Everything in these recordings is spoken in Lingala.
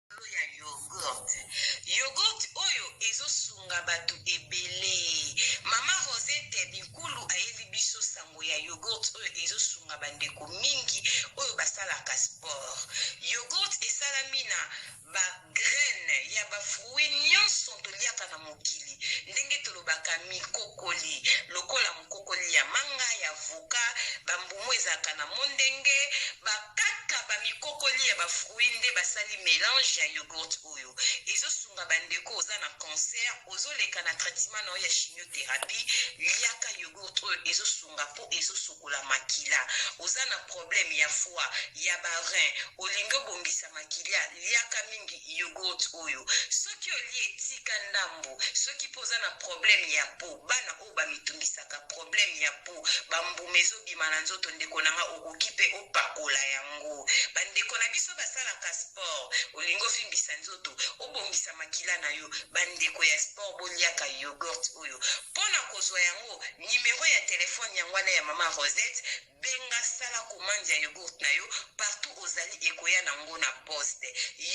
likolo ya yogurt yogurt oyo ezo sunga batu ebele mama rosette binkulu ayeli biso sango ya yogurt oyo ezo sunga bandeko mingi oyo basalaka sport yogurt esalami na ba graine ya ba fruit nionso toliaka na mokili ndenge tolobaka mikokoli lokola mokokoli ya manga ya voka bambumu ezalaka na mondenge bakaka bamikokoli ya bafruit nde basali melange ya yogurt oyo ezosunga bandeko oza na cancer ozoleka na traitement na yo ya chimiothérapie liaka yogurt oyo ezosunga ezo sokola makila oza na problème ya foi ya ba rein olingi obongisa makila liaka mingi yogurt oyo soki olie tika ndambu soki mpo oza na problème ya po bana oyo bamitungisaka problème ya po bambuma ezobima na nzoto ndeko na nga okoki mpe opakola yango bandeko na biso basalaka sport olingi ovimbisa nzoto obongisa makila na yo bandeko ya sport boliaka yogurt oyo mpo na kozwa yango numero ya telephone yango wana ya maman Rosette benga sala commande ya yogurt na yo partout ozali ekoya na ngo na poste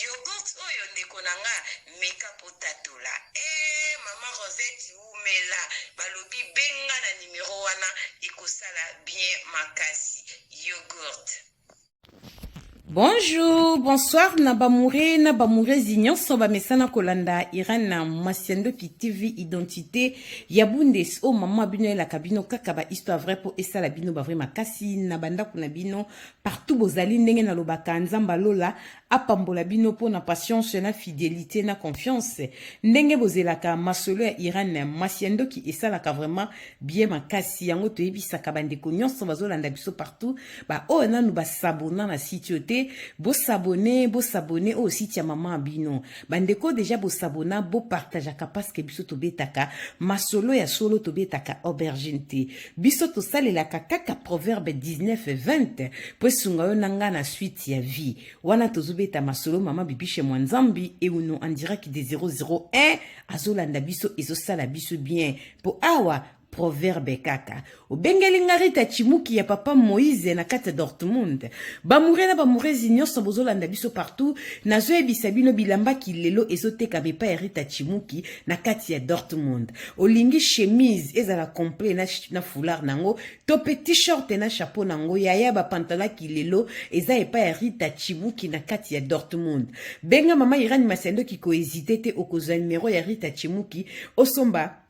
yogurt oyo ndeko na nga meka potatola eh maman Rosette wumela balobi benga na numero wana ekosala bien makasi yogurt Bonjour, bonsoir na bamoure na bamourezi nyonso bamesana kolanda Irène na Masiandoki TV Identité ya Bundes o oh, mama bino elaka bino kaka ba histoire vrai po esala bino ba vrai makasi na bandako na bino partout bozali ndenge na lobaka nzamba lola apambola bino po na patience na fidélité na confiance ndenge bozelaka masolo ya Irène Masiandoki esalaka vraiment bie makasi yango toyebisaka bandeko nyonso bazolanda biso partout baoyo oh, nanu basabona na site oyo te bosabone bosabone oyo oh, site ya mama bino bandeko deja bosabona bopartageaka parceke biso tobetaka masolo ya solo tobetaka aubergine te biso tosalelaka kaka proverbe 1920 mpo esunga yo na ngai na suite ya vie wana tozobeta masolo mama bibishe mwa nzambi euno andiraki de 001 azolanda biso ezosala biso bien po awa proverbe kaka obengeli nga rita chimuki ya papa moise na kati ya dortmund bamoure na bamourezi nyonso bozolanda biso partout nazoyebisa bino bilamba kilelo ezotekama epai ya rita chimuki na kati ya dortmund olingi chemise ezala complet na, na foulard nango to pe t-shirt na chapeau na ngo yaya ba pantala kilelo eza epa ya Rita Chibuki na kati ya Dortmund benga mama Irani Masendo ki ko hésiter te okozwa numéro ya Rita Chimuki osomba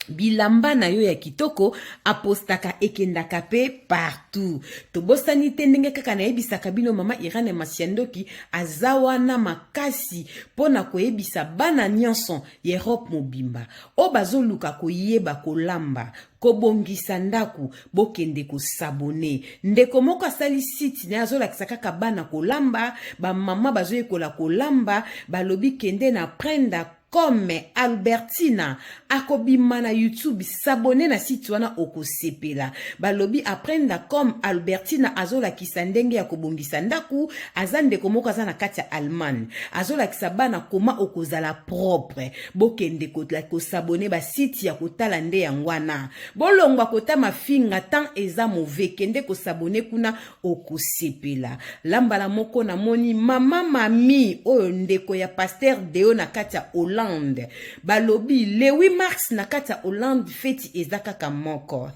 bilamba na yo ya kitoko apostaka ekendaka pe partout tobosani te ndenge kaka nayebisaka bino mama irane masiandoki aza wana makasi mpo na koyebisa bana nyonso ya erope mobimba oyo bazoluka koyeba kolamba kobongisa ndako bokende kosabone ndeko moko asali site naye azolakisa kaka bana kolamba bamama bazoyekola kolamba balobi kende na prenda comme albertina akobima na youtube sabone na site wana okosepela balobi aprenda comme albertina azolakisa ndenge ya kobongisa ndako aza ndeko moko aza na kati ya allemagne azolakisa bana koma okozala propre Bokende ko, ko s'abonner ba site ya kotala nde yango wana. Bolongwa kota mafinga temps eza mauvais kende ko s'abonner kuna okosepela. La mbala moko na moni mama mami oyo ndeko ya pasteur Deo na kati ya Hollande. Balobi le 8 mars na kati ya Hollande feti eza kaka moko.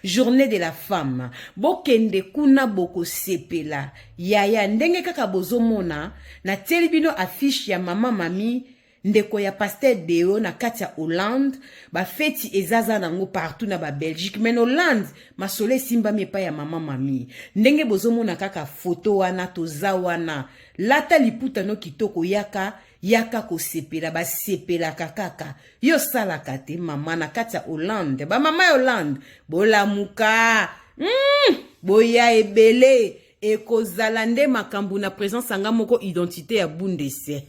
Journée de la femme. Bokende kuna bokosepela. Yaya ndenge kaka bozomona natieli bino affiche ya mama mami ndeko ya pasteur deo na kati ya hollande bafeti ezaza nango partout na babelgique mai na hollande masolo esimbami epai ya mama mami ndenge bozomona kaka foto wana toza wana lata liputa no kitoko yaka yaka kosepela basepelaka kaka yo osalaka te mama na kati ya hollande bamama ya hollande bolamuka mm, boya ebele ekozala nde makambo na présence anga moko identité ya bundese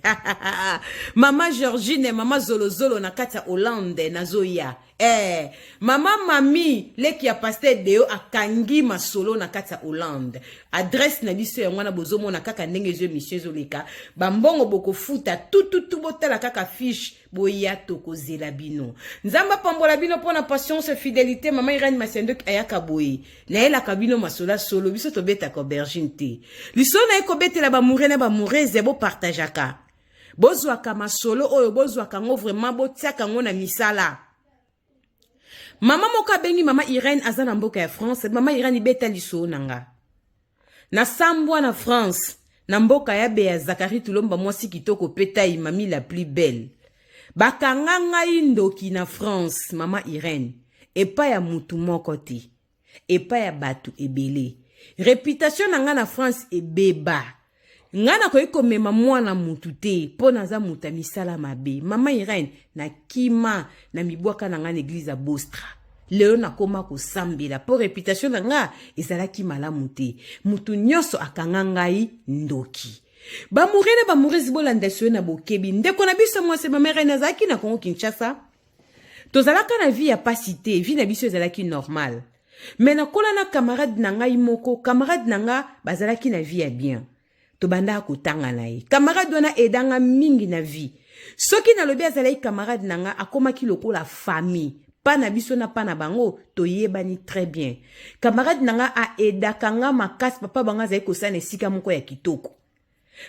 mama georgine mama zolozolo na kati ya hollande nazoya Eh, mama mami leki ya pasteur deo akangi masolo na kati ya hollande adresse na biso yango wana bozomona kaka ndenge ezo emission ezoleka bambongo bokofuta tututu botala kaka fiche boya tokozela bino nzambe apambola bino mpo na patience fidelité mama irene masiandoki ayaka boye nayelaka bino masolo ya solo biso tobetaka aubergine te lisolo naye kobetela bamoure na bamourese bopartageaka bozwaka masolo oyo bozwaka yango vraiment botiaka yango na misala mama moko abengi mama irene aza na mboka ya france mama irene ibeta lisoo na nga nasambwa na france na mboka ya beya zakari tulomba mwasi kitoko mpe tai mami la plus belle bakanga ngai ndoki na france mama irene epai ya mutu moko te epa ya bato ebele reputation na nga na france ebeba nga nakoki komema mwana mutu te mpo naza moto ya misala mabe mama irene na kima na mibwaka na nga na eglize ya bostra lelo nakoma kosambela mpo reputation na nga ezalaki malamu te moto nyonso akanga ngai ndoki bamourene bamourese bolanda soye na bokebi ndeko na biso mwasi mama irene azalaki na kongo kinshasa tozalaka na vie ya pasi te vie na biso ezalaki normal me nakola na camarade na ngai moko camarade na nga bazalaki na vie ya bien tobandaka kotanga na ye camarade wana edanga mingi na vie soki nalobi azalaki camarade na nga akomaki lokola famille pa na biso na pa na bango toyebani très bien camarade na nga aedaka nga makasi papa bango azali kosala na esika moko ya kitoko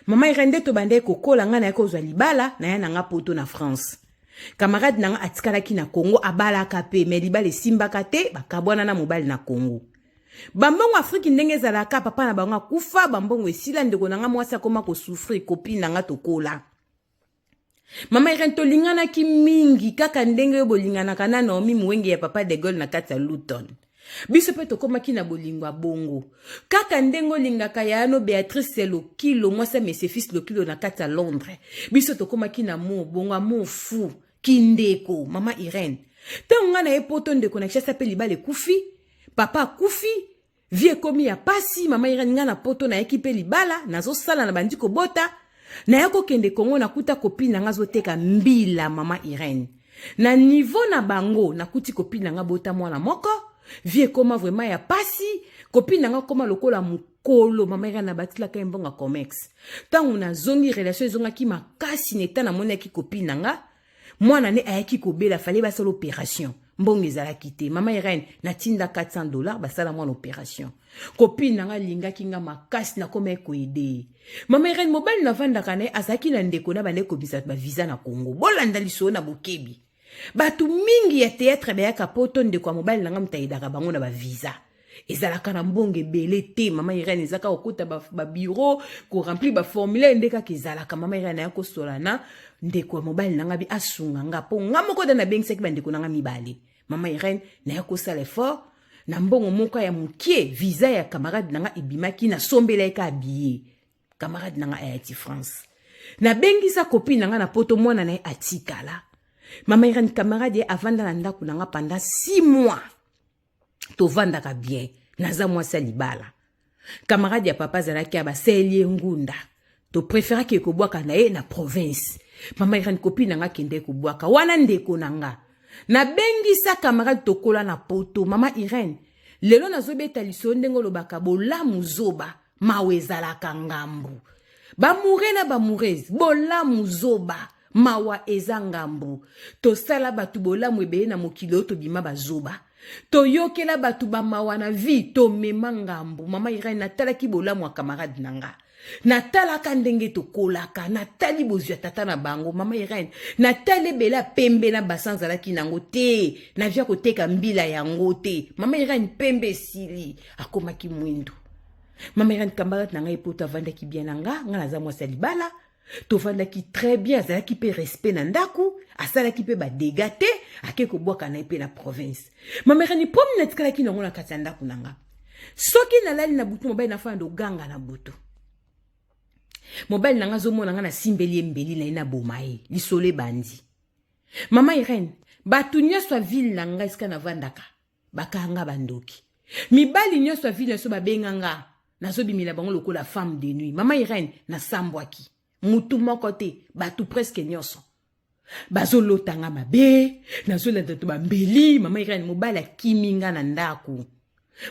Mama Irène nde tobandaki kokola ngai nayaki kozwa libala na ya na nga poto na France. Camarade na nga atikalaki na Congo abalaka pe me libala esimbaka te bakabwana na mobali na Congo. Bambongo Afrique ndenge ezalaka papa na bango akufa bambongo esila ndeko na nga mwasi akoma kosufrir copine na nga tokola. mama irene tolinganaki mingi kaka ndenge yo bolinganaka na naomi muwenge ya papa de gaulle na kati ya luton biso mpe tokomaki na bolingo ya bongo kaka ndenge olingaka yayano beatrice lokilo mwasi ya mesefis lokilo na kati ya londres biso tokomaki na mo bongo amour fou kindeko mama irene ntango ngai na ye poto ndeko na kishasa mpe libala ekufi papa akufi vie ekomi ya pasi mama irene nga na poto nayaki mpe libala nazosala na bandi kobota naya kokende kongo nakuta kopine na nga azoteka mbila mama irene na nivo na bango nakuti kopine na nga bota mwana moko vie ekoma vraimen ya pasi kopine na nga koma lokola mokolo mama irene nabatilaka ye mbongo ya comex ntango nazongi relation ezongaki makasi na eta namonaki kopine na nga mwana ne ayaki kobela fale basala operation mbongo ezalaki te mama irene natinda 400 dollar basala mwana operation kopine na ngai alingaki ngai makasi nakomaki koede ye mama irene mobali navandaka na ye azalaki na ndeko na bandeki kobimisa baviza na congo bolanda lisolo na bokebi bato mingi ya teatre bayaka poto ndeko ya mobali na ngai moto ayedaka bango na baviza ezalaka na mbongo ebele te mama irene eza kaka kokota babiro koremplir baformulaire nde kaka ezalaka mama irene aya kosola na ndeko ya mobali na ngai asunga nga mpo nga moko da nabengisaki bandeko na ngai mibale mama irene naya kosala effort na mbongo moko ya mokie visa ya camarade na ngai ebimaki nasombelaki ka biye camarade na ngai ayati france nabengisa kopi na ngai na poto mwana na ye atikala mama irene camarade ye avanda na ndako na ngai pendant 6 mois tovandaka bien naza mwasi ya libala camarade ya papa azalaki abaseli ye ngunda topreferaki ekobwaka na ye na province mama irani kopi na nga kende kobwaka wana ndeko na nga nabengisa camarade tokola na poto mama irene lelo nazobeta lisolo ndenge olobaka bolamu zoba mawa ezalaka ngambu bamoure na bamourese bolamu zoba mawa eza ngambu tosala bato bolamu ebele na mokili oyo tobima bazoba toyokela bato bamawa na vie tomema ngambu mama irene natalaki bolamu ya camarade na nga natalaka ndenge tokolaka natali bozwi ya tata na bango mama irene natali ebele ya pembe na basi azalaki nango te navia koteka mbila yango te mama irene pembe esili akomaki mwindu mama irene camarade na ngai mpo tavandaki bien na nga ngai naza mwasi ya libala tofandaki très bien azalaki mpe respect na ndako asalaki mpe badega te ake kobwaka na ye mpe na province mamerani mpomi natikalaki nango na kati ya ndako na nga soki nalali na butu mobali nafanda ndoganga na butu mobali na nga azomona nga nasimbeli ye mbeli na ye naboma ye lisolo ebandi mama irene bato nyonso ya ville na nga esika navandaka bakanga bandoki mibali nyonso ya vile na biso babenga nga nazobimela bango lokola femme de nuit mama irene nasambwaki mutu moko te bato preske nyonso bazolota nga mabe nazolanda to bambeli mama irene mobali akimi nga na ndako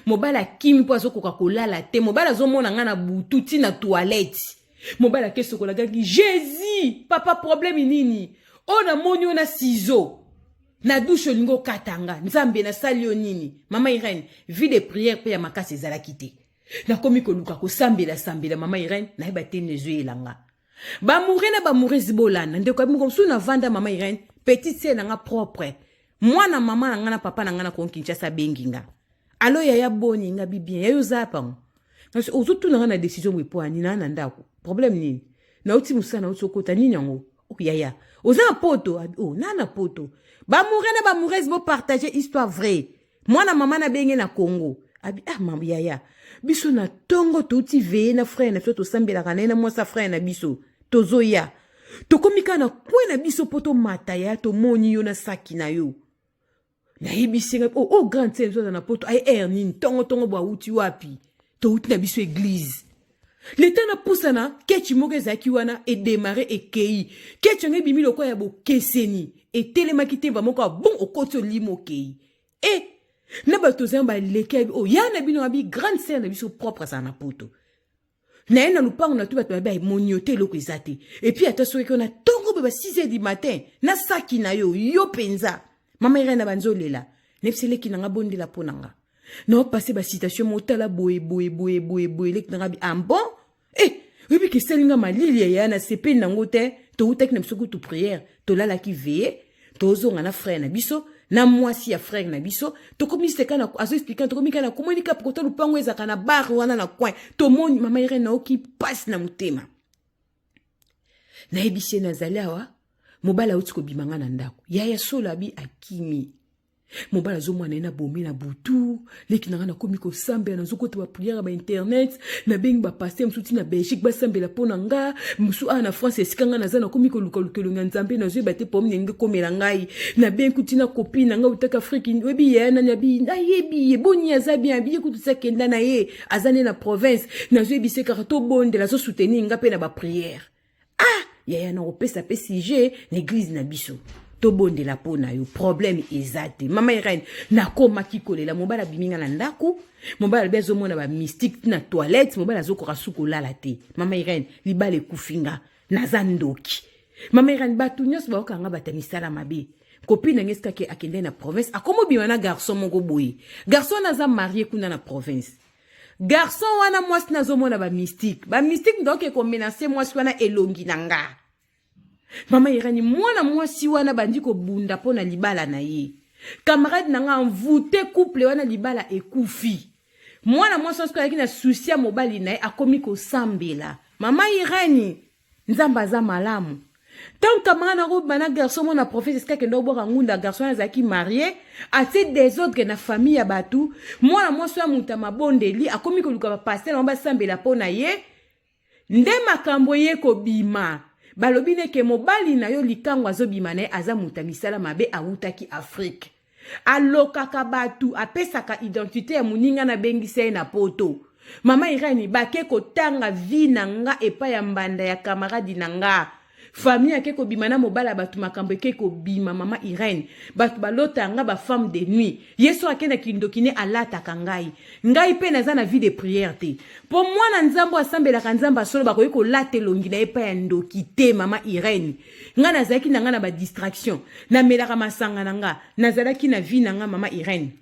mobali akimi mpo azokoka kolala te mobali azomona nga na butu ti na toilette mobali akesokolakaki jesus papa probleme nini oyo namoni oyo na sizo na dushe olingi okata nga nzambe nasali yo nini mama irene vie de prière mpe ya makasi ezalaki te nakomi koluka kosambela sambela mama irene nayeba te nezoyela nga bamoure na bamourezi bolanda ndeko yabi moko mosusu navanda mama irene petite se na nga propre mwana mama na nga na papa na nga na kongo kinshasa abengi nga alo yaya boni nga bibien yayo oza pango kasi ozotuna nga na desizio boye mpo ya nini na ndako problème nini nauti mosala nauti okota nini yango Oh, yaya oza na poto ah, oh, na na poto bamoureux na bamoureuse bopartage histoire vraie mwana mama na benge na congo abi ah mambo yaya biso na ntongo touti veye na frere na biso tosambelaka na ye na mwasi ya frere na biso tozoya tokomi kaka na kwe na biso mpo tomata ya tomoni yo na saki na yo nayebisi ngai oh, oh grande sœur biso na poto aye air nini ntongo ntongo bwa awuti wapi towuti na biso eglize leta napusana kechi moko ezalaki wana edemare ekei kechi yango ebimi lokola ya bokeseni etelemaki te bamoko ya bon okoti olimo okei e eh, na bato ozali baleki oyo oh, ya na bino abi grande sœur na biso propre azala na poto na ye na lupango na to bato babe emoni yo te eloko eza te epuis ata soki ona ntongo boye ba 6 heures du matin na saki na yo yo mpenza mama irene abanzi olela nayebisa eleki na nga bondela mpo na nga naopase bacitation motala boye boye boye boye boye eleki na nga bi ambon ah e eh, oyebi kesali nga malili yaya na sepeli nango te toutaki na biso kutu priere tolalaki veye tozonga na frère na biso na mwasi ya frère na biso tokomi seka na azo expliquer tokomi kana komoni kap kota lupango ezaka na bar wana na coin tomoni mama Irène naoki passe na motema nayebisi ye nazali awa mobali auti kobima nga na ndako yaya solo abi akimi mobali azomwana ye na bomi na butu leki na ngai nakomi kosambela nazokota bapriere ba internet nabengi bapaster mosusu ti na belgique basambela mpo na nga mosusu awa na france esika ngai naza nakomi kolukaluka elongi ya nzambe nazoyeba te pome ndenge ekomela ngai nabengi kuti na kopi na ngai otaka afriki oyebi ye nani abi nayebi ye boni aza bien abi ye kutu sakenda na ye aza nde na province nazoyebisa ye kaka tobondela azosoutenir ngai mpe na bapriere ah yaya na kopesa pe sujet na eglise na biso tobondela mpo na yo problème eza te mama irene nakomaki kolela mobali abimi nga na ndako mobali alobi azomona bamystike na toilette mobali azokoka su kolala te mama irene libala ekufi nga naza ndoki mama irene bato nyonso bayoka nga bata misala mabe kopi na nge sikaki akendai na province akomobima na garçon moko boye garçon wana aza marie kuna na province Garçon wana mwasi nazo mona ba mystique. Ba mystique donc eko menacer mwasi wana elongi na nga. Mama Irani mwana mwasi wana bandi ko bunda pona libala na ye. Camarade na nga envoute couple wana libala ekufi. Mwana mwasi wana soki ayaki na souci ya mobali na ye akomi kosambela. Mama Irani nzambe aza malamu ntango camarade yango bana garçon mona prophète esika akenda kobwaka ngunda garçon wana azalaki marie atie desordre na famille ya bato mwana mwasi ya moto ya mabondeli akomi koluka bapaster yango basambela mpo na ye nde makambo eye kobima balobi neke mobali na yo likango azobima na ye aza moto ya misala mabe awutaki afrike alokaka bato apesaka identite ya moninga na bengisa ye na poto mama irani bake kotanga vi na nga epai ya mbanda ya kamaradi na nga famille ake kobima na mobali ya bato makambo eke kobima mama irene bato balota nga bafemme de nuit ye so akenda kindoki ne alataka ngai ngai mpe naza na vie de prière te mpo mwana nzambe asambelaka nzambe asolo bakoki kolata elongi na ye epai ya ndoki te mama irene nga nazalaki na nga na ba distraction namelaka masanga na nga nazalaki na vie na nga mama irene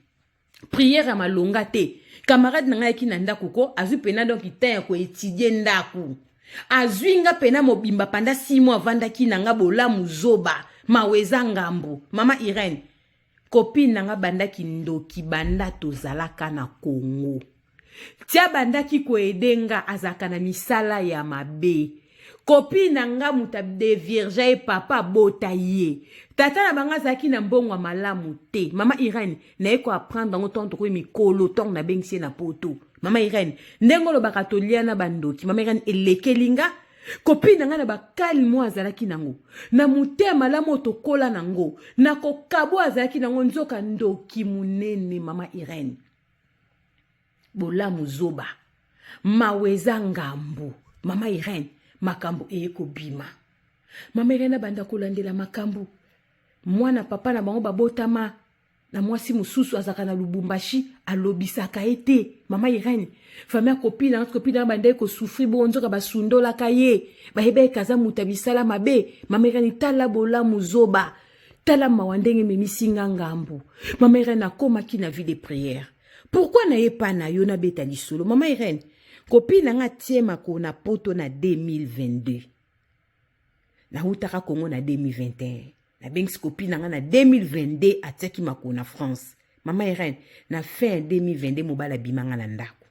priere ya malonga te camarade na ngai ayaki na ndako ko azwi mpena donc temps ya koetidie ndako azwi nga mpena mobimba panda simo avandaki na nga bolamu zoba mawa eza ngambo mama irene Copine na nga banda kindoki banda tozalaka na Congo. Ti abandaki koede nga azalaka na misala ya mabe. Copine na nga moto adevirja ye papa abota ye. Tata na bango azalaki na mbongo ya malamu te. Mama Irene, naye ko apprendre yango ntango tokomi mikolo, ntango nabengisi ye na poto. Mama Irene, ndenge olobaka tolia na bandoki. Mama Irene, elekeli nga. Kopi na ngai na bakali mwa azalaki nango na motema malamu oyo tokola nango na kokabo azalaki nango nzoka ndoki monene mama Irene bolamu zoba mawa eza ngambu mama Irene makambo eye kobima mama Irene abanda kolandela makambo mwana papa na bango babotama na mwasi mosusu azalaka na lubumbashi alobisaka ye te mama irene fami ya kopi na kopi na bandai kosufri bongo nzoka basundolaka ye bayebaki aza moto ya misala mabe mama irene tala bolamu zoba tala mawa ndenge ememisi nga ngambu mama irene akomaki na vie de prière pourkui na ye pa na yo nabeta lisolo mama irene kopi na nga tie makolo na poto na 2022 nautaka congo na 2021 nabengisi kopi na ngai na 2022 atiaki makolo na france mama irene na fin ya 2022 mobali abima ngai na ndako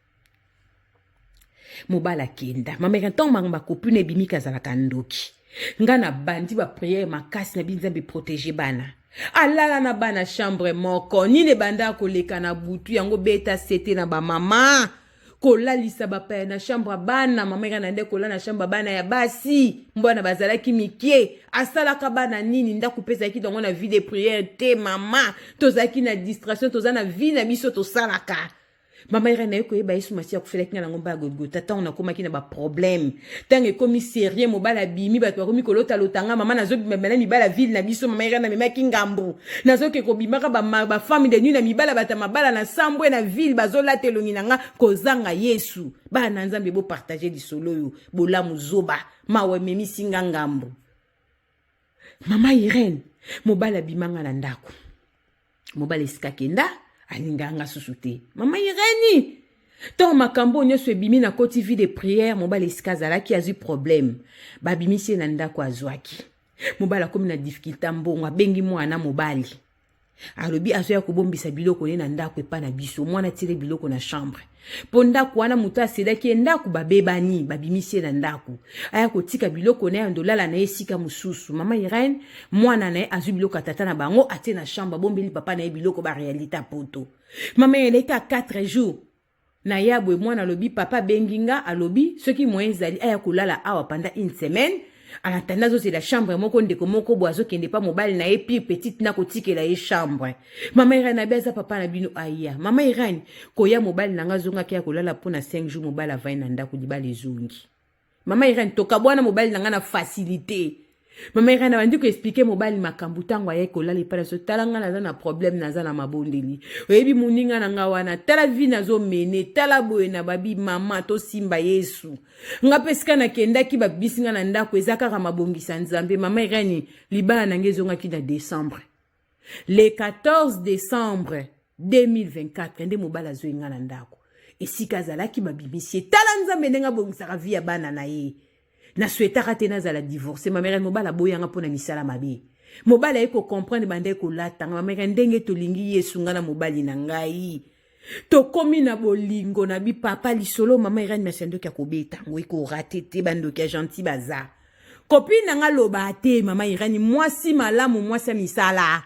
mobali akenda mama irene ntango bango bakopi na ebimiki azalaka ndoki ngai nabandi bapriere makasi na bi nzambe protege bana alala na bana chambre moko nini ebandaka koleka na butu yango beta sete na bamama kolalisa bapaya na chambre bana mama eka na nde kola na chambre bana ya basi mbwana bazalaki mike asalaka bana nini ndako mpe ezalaki nango na vie de priere te mama tozalaki na distraction toza na vie na biso tosalaka mama eka naye koyeba yesu masiya akofelaki nga nango mba ya golgota ntango nakomaki na baproblème ntango ekomi serie mobali abimi bato bakomi kolota lotanga mama nazobimamela mibala ville na biso mama irene amemaki ngambo nazoke kobimaka bafami de nuit na mibala bato ya mabala na sambwe na ville bazolata elongi na nga kozanga yesu bana na nzambe bopartage lisolo oyo bolamu zoba mawa ememisi nga ngambo mama irene mobali abimanga na ndako mobali esika kenda alingaka nga susu te mama irene ntango makambo oyo nyonso ebimi na koti vie de prière mobali esika azalaki azwi problème babimisi ye na ndako azwaki mobali akomi na difficulté mbongo abengi mwana mobali alobi azoya kobombisa biloko ne na ndako epa na biso mwana atire biloko na chambre mpo ndako wana moto aselaki ye ndako babebani babimisi ye na ndako aya kotika biloko na ye andolala na ye esika mosusu mama irene mwana na ye azwi biloko ya tata na bango atie na chambre abombeli papa na ye biloko barealite ya poto mama irene ete a 4 jours Na ya boye mwana alobi papa abengi nga alobi soki moyen ezali aya kolala awa pendant une semaine en attendant azozela chambre moko ndeko moko boye azokende mpa mobali na ye pire petite na kotikela ye chambre mama irane abi aza papa na bino aya mama irane koya mobali na nga azongaki ya kolala mpo na 5 jours mobali avai na ndako libala ezongi Mama Irene tokabwana mobali na ngai na facilité. Mama Irene abandi ko expliquer mobali makambo ntango ayaki kolala epai na biso tala ngai naza na problème naza na mabondeli oyebi moninga na ngai wana tala vi nazomene tala boye na babi mama tosimba yesu ngai mpe esika nakendaki babisi ngai na ndako eza kaka mabongisa nzambe mama Irene libala na ngai ezongaki na décembre le 14 decembre 2024 nde mobali azwi nga na ndako esika azalaki babimisi ye tala nzambe ndenge abongisaka vi ya bana na ye naswetaka te nazala divorce mamere mobali aboyanga mpo na misala mabe mobali aye kocomprendre bandai kolatanga mamere ndenge tolingi yesu nga na mobali na ngai tokomi na bolingo na bi papa lisolo mama irene masi ya ndoki akobeta yango ekorate te bandoki ya gentil baza kopini na nga loba te mama irene mwasi malamu mwasi ya misala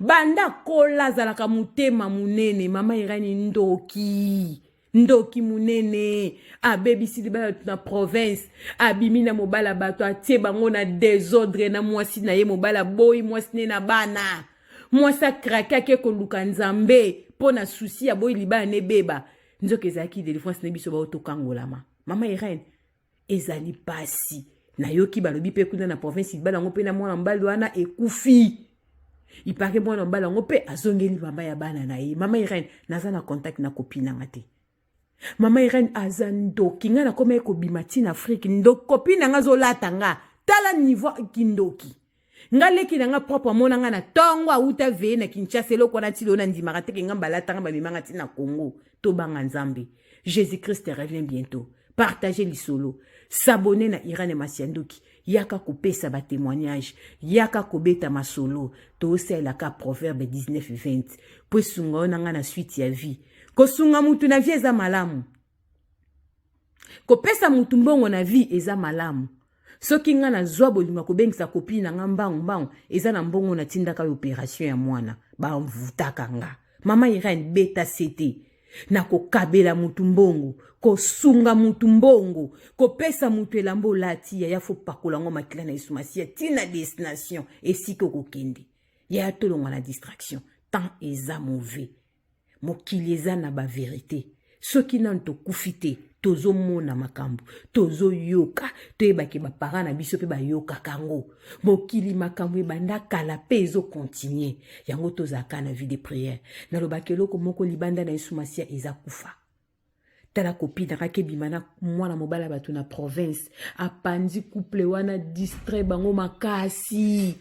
banda kola azalaka motema monene mama irene ndoki ndoki monene abebisi libala bato na province abimi na mobala bato atie bango na desordre na mwasi na ye mobala boyi mwasi ne na bana mwasi akrake ake koluka nzambe mpo na susi ya boyi libala nebeba nzoka ezalaki delivrance na biso baoyo tokangolama mama irene ezali mpasi nayoki balobi mpe kuna na province libala yango mpe na mwana mobali wana ekufi ipake mwana mobali yango mpe azongeli mama ya bana na ye mama irene naza na contact na kopi nanga te mama irene aza ndoki ngai nakomaki kobima ti na afrike ndoki kopi na ngai azolata nga tala niveau kindoki nga leki na nga propre amona nga na tongo awuta veye na kinshasa eloko wana tilo na ndimaka teke nga mbalatanga bamimanga ti na congo tobanga nzambe jésus christ revient bientôt partage lisolo s'abonner na irene masianduki yaka kopesa batemoignage yaka kobeta masolo tosalelaka proverbe 1920 mpo esunga yo na ngai na swite ya vie kosunga motu na vie eza malamu kopesa motu mbongo na vie eza malamu soki ngai nazwa bolingo ya kobengisa kopini na ngai mbangu mbangu eza na mbongo natindaka yo operation ya mwana bavutaka ngai Mama Irene beta sete na kokabela mutu mbongo kosunga mutu mbongo kopesa mutu elamba olati yaya fo pakola yango makila na yesu masiya ti na destination esika okokende yaya tolonga na distraction temps eza mauvais mokili eza na baverite soki nanu tokufi te tozomona makambo tozoyoka toyebake bapara na biso mpe bayokaka yango mokili makambo ebanda kala mpe ezokontinue yango tozalaka na vie de priere nalobaka eloko moko libanda na yesu masiya eza kufa tala kopi nakaki ebima na mwana mobali ya bato na province apanzi couple wana distrai bango makasi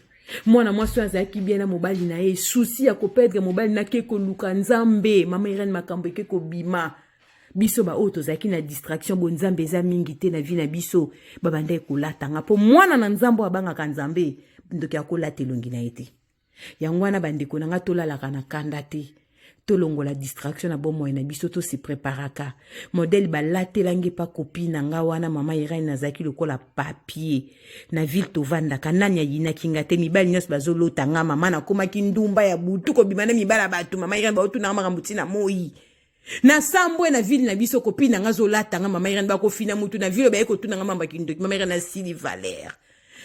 mwana mwasi oyo azalaki bien na mobali na ye susi ya koperdre mobali na ke koluka nzambe mama irene makambo eke kobima biso baoyo tozalaki na distraction bo nzambe eza mingi te na vie na biso babandaki kolatanga mpo mwana na nzambe oyo abangaka nzambe ndoki akolata elongi na ye te yango wana bandeko na ngai tolalaka na kanda te tolongola distraction na bomoi na biso to se preparaka modele balatelangi epa kopi na nga wana mama irene nazalaki lokola papier na ville tovandaka nani ayinaki nga te mibali nyonso bazolota nga mama nakomaki ndumba ya butu kobima na mibali ya bato mama irene baotunanga makambo ntina moi na sambwe na ville na biso kopi na nga azolata nga mama irene bakofina mutu na ville oyo baye kotuna nga mamba kindoki mama irene asili valere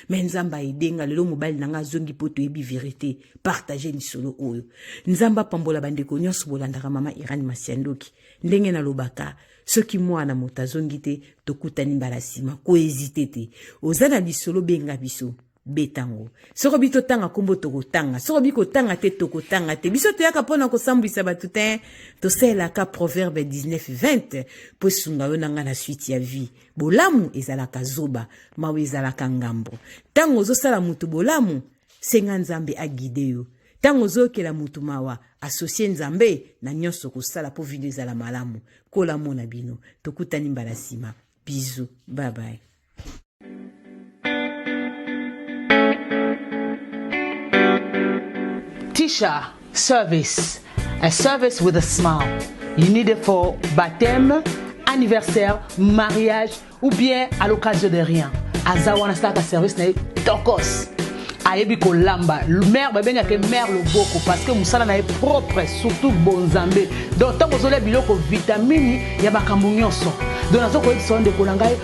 me nzambe aide nga lelo mobali na nga azongi mpo toyebi verite partage lisolo oyo nzambe apambola bandeko nyonso bolandaka mama irane masiandoki ndenge nalobaka soki mwana moto azongi te tokutani mbala nsima koezite te oza na lisolo benga biso betango soko bi totanga nkombo tokotanga soko bi kotanga te tokotanga te biso toyaka mpo na kosambwisa bato te tosalelaka proverbe 19 20 mpo esunga yo na ngai na suite ya vie bolamu ezalaka zoba mawa ezalaka ngambo ntango ozosala moto bolamu senga nzambe agide yo ntango ozoyokela moto mawa asosie nzambe na nyonso kosala mpo video ezala malamu kola mona bino tokutani mbala nsima bizu babaye Tisha service a service with a smile you need it for baptême anniversaire mariage ou bien à l'occasion de rien aza wana asalaka service na ye tokos ayebi kolamba mare babengaka mare loboko parce que mosala na ye propre surtout bonzambe donc ntango ozolia biloko vitamini ya makambo nyonso donc nazokoyebisa yo ndeko na ngai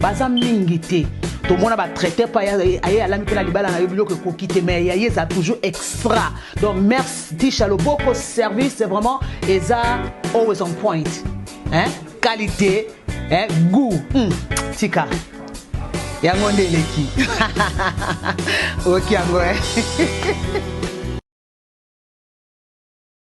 baza mingi te tomona ba traite pa aye alami mpe na libala na yo biloko ekoki te mais ya ye eza toujours extra donc merci tisha loboko service vraiment eza always on point hein? qualité hein? goût hmm. tika yango nde eleki oki yango eh?